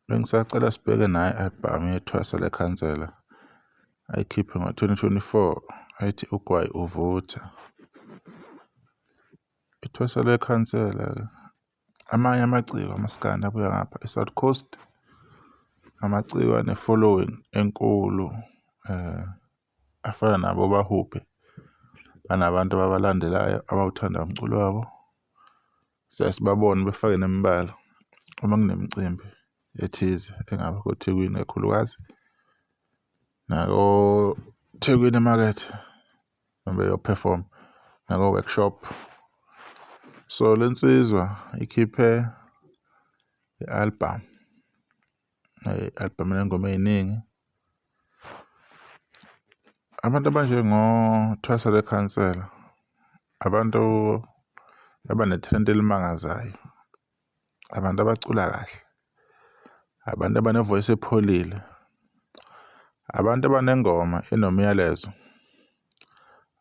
Bengisacela sibheke nayo i-albhamu yethwasa lekhansela ayikhiphe ngo-2024 ethi Ugwayi Uvutha. Ithwasa lekhansela amanye amaciko amasikandi abuya ngapha e-South Coast amaciko ane-following enkulu um afana nabo bahubhe banabantu ababalandelayo abawuthanda umculo wabo. Siyaye sibabone befake nemibala uma kunemicimbi ethize engaba koThekwini kakhulukazi nakoThekwini emakethe uma beyophefoma nako-workshop. So, le nsizwa ikhiphe i-albhamu. i-albhamu enengoma ey'ningi. Abantu abanjengoThwasa The Khansela, abantu abanethalente elimangazayo, abantu abacula kahle, abantu abanevoyisi epholile, abantu abanengoma enomyalezo,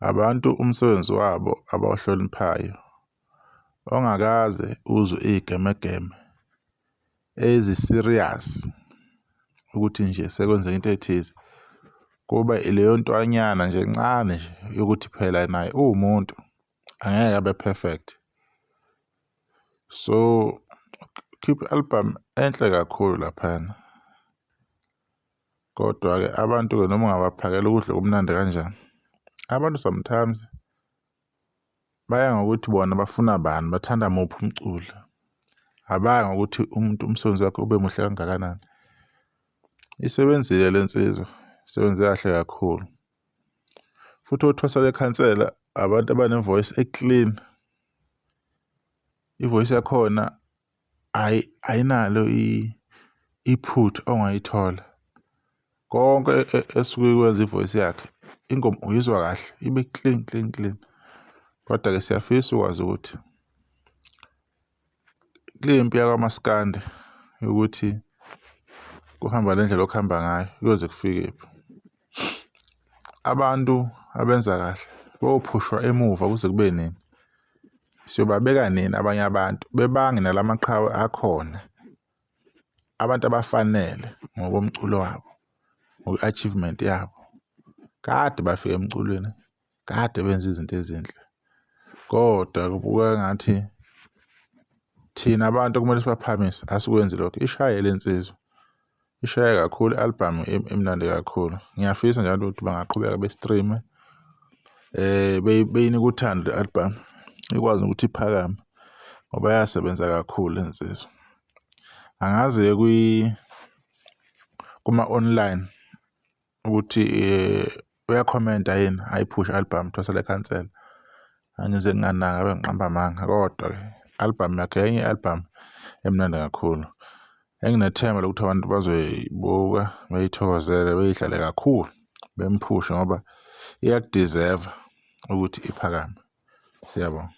abantu umsebenzi wabo abawuhloniphayo ongakaze uzwe iyigemegeme. ezi-serious ukuthi nje sekwenzeka into ethize kuba ileyo ntwanyana nje encane nje yokuthi phela naye uwumuntu angeke abe perfect so khipha i-album enhle kakhulu laphana kodwa-ke abantu-ke noma ungabaphakela ukudla kumnandi kanjani abantu sometimes baya ngokuthi bona bafuna bani bathanda muphi umculo abaya ngokuthi umuntu umsebenzi wakhe ube muhle kangakanani isebenzile le nsizwa isebenze kahle kakhulu futhi othwasa lekhansela abantu abanevoice eclean ivoice yakhona Ayi ayinalo iphutha ongayithola. Konke e, e, esuke ikwenza ivoice yakhe ingoma uyizwa kahle ibe clean clean clean. Kodwa ke siyafisa ukwazi ukuthi kule mpi yakamaskandi yokuthi kuhamba le ndlela okuhamba ngayo kuyoze kufikephi. Abantu abenza kahle bophushwa emuva kuze kube nini? Siyobabeka nini abanye abantu bebange nala maqhawe akhona? Abantu abafanele ngokomculo wabo, ngokwe-achievement yabo, kade bafika emculweni. kade benza izinto ezinhle kodwa kubuka ngathi thina abantu kumele sibaphamise asikwenzi lokho ishaye le nsizwa ishaye kakhulu i-albhamu emnandi kakhulu ngiyafisa njalo ukuthi bangaqhubeka be-streame eh beyini kuthanda le album ikwazi ukuthi iphakame ngoba yasebenza kakhulu insizwa angazi kwi kuma online ukuthi eh, uyakhomenta yini ayiphushe album thwasele cancel angize nginganaka abe ngiqamba amanga kodwa ke album yakhe enye album emnandi kakhulu enginethemba lokuthi abantu bazoyibuka beyithokozele beyihlale kakhulu bemphushe ngoba iyakudeserve ukuthi iphakame siyabonga